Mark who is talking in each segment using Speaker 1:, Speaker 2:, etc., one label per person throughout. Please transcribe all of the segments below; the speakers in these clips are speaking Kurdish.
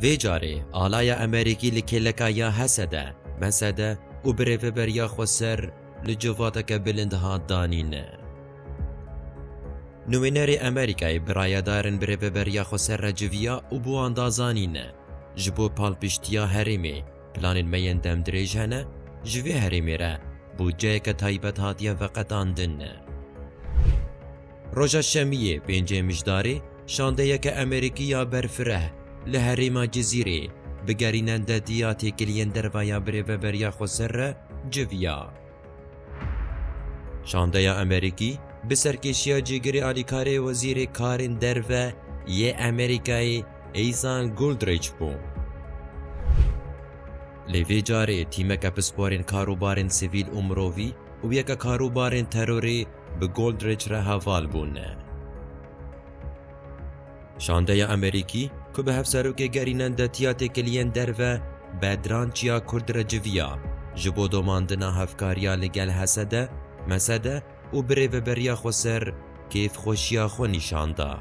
Speaker 1: Vê carê alaya Emerîkî li kêleka ya Hesede, Mesede û bi rêveberiya xwe ser li civateke bilind hat danîn. Nûmênerê Emerîkayê bi rayedarin bi rêveberiya xwe ser re civiya û bi wan da zanîn, Ji bo palpiştiya herêmê planên me yên demdirêj hene, ji vê herêmê re bûdceyeke taybet hatiye veqetandin. Roja Şemiyê pêncê Mijdarê şandeyeke Amerîkî ya berfireh li herêma Cizîrê bi gerînen dedî ya têkiliyên derve ya birêveberiya xweser re civiya. Şandeya Amerîkî bi serkêşiya Cîgirê Alîkarê Wezîrê Karên Derve yê Amerîkayê Aizan Goldrich bû. Lê vê carê tîmeke pisporên karûbarên sivîl û mirovî û yeke karûbarên terorê bi Goldrich re heval bûne. Şandeya Amerîkî ku bi hevserokê gerînan de tiya têkiliyên derve Bedran Çiya Kurd re civiya ji bo domandina hevkariya li gel Hesede, Mesede û bi rêveberiya Xweser kêfxweşiya xwe nîşan da.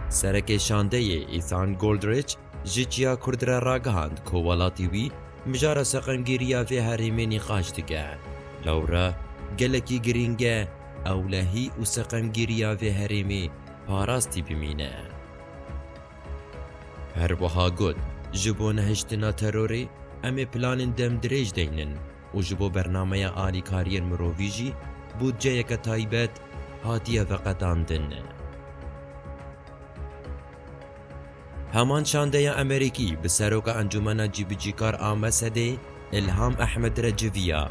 Speaker 1: Serekê şandeyê Ethan Goldrich Ji Çiya Kurd re ragihand ku welatî wî mijara seqemgîriya vê herêmê nîqaş dike. Lewre gelekî girîng e ewlehî û seqemgîriya vê herêmê parastî bimîne. Her wiha got, Ji bo nehiştina terorê em ê planên demdirêj deynin û ji bo bernameya alîkariyên mirovî jî bûdceyeke taybet hatiye veqetandin. Heman şandeya Amerîkî bi Seroka Encûmena Cîbicîkar a Mesedê Îlham Ehmed re civiya.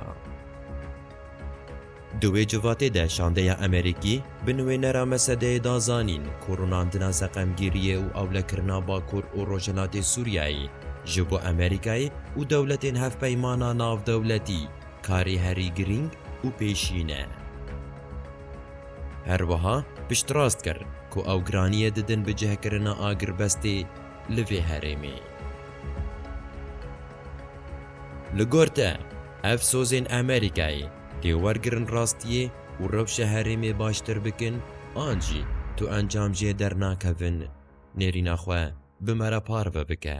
Speaker 1: Di wê civatê de şandeya Amerîkî bi nûênera Mesedeyê da zanîn ku rûnandina seqemgîriyê û ewlekirina Bakur û Rojhilatê Sûriyeyê ji bo Amerîkayê û dewletên hevpeymana navdewletî karê herî girîng û pêşîn e. Her wiha piştrast kir ku ew giraniyê didin bi cihkirina agirbestê li vê herêmê. Li gor te, ev sozên Amerîkayê tê wergirin rastiyê û rewşa herêmê baştir bikin an jî tu encam jê dernakevin nêrîna xwe bi me re parve bike.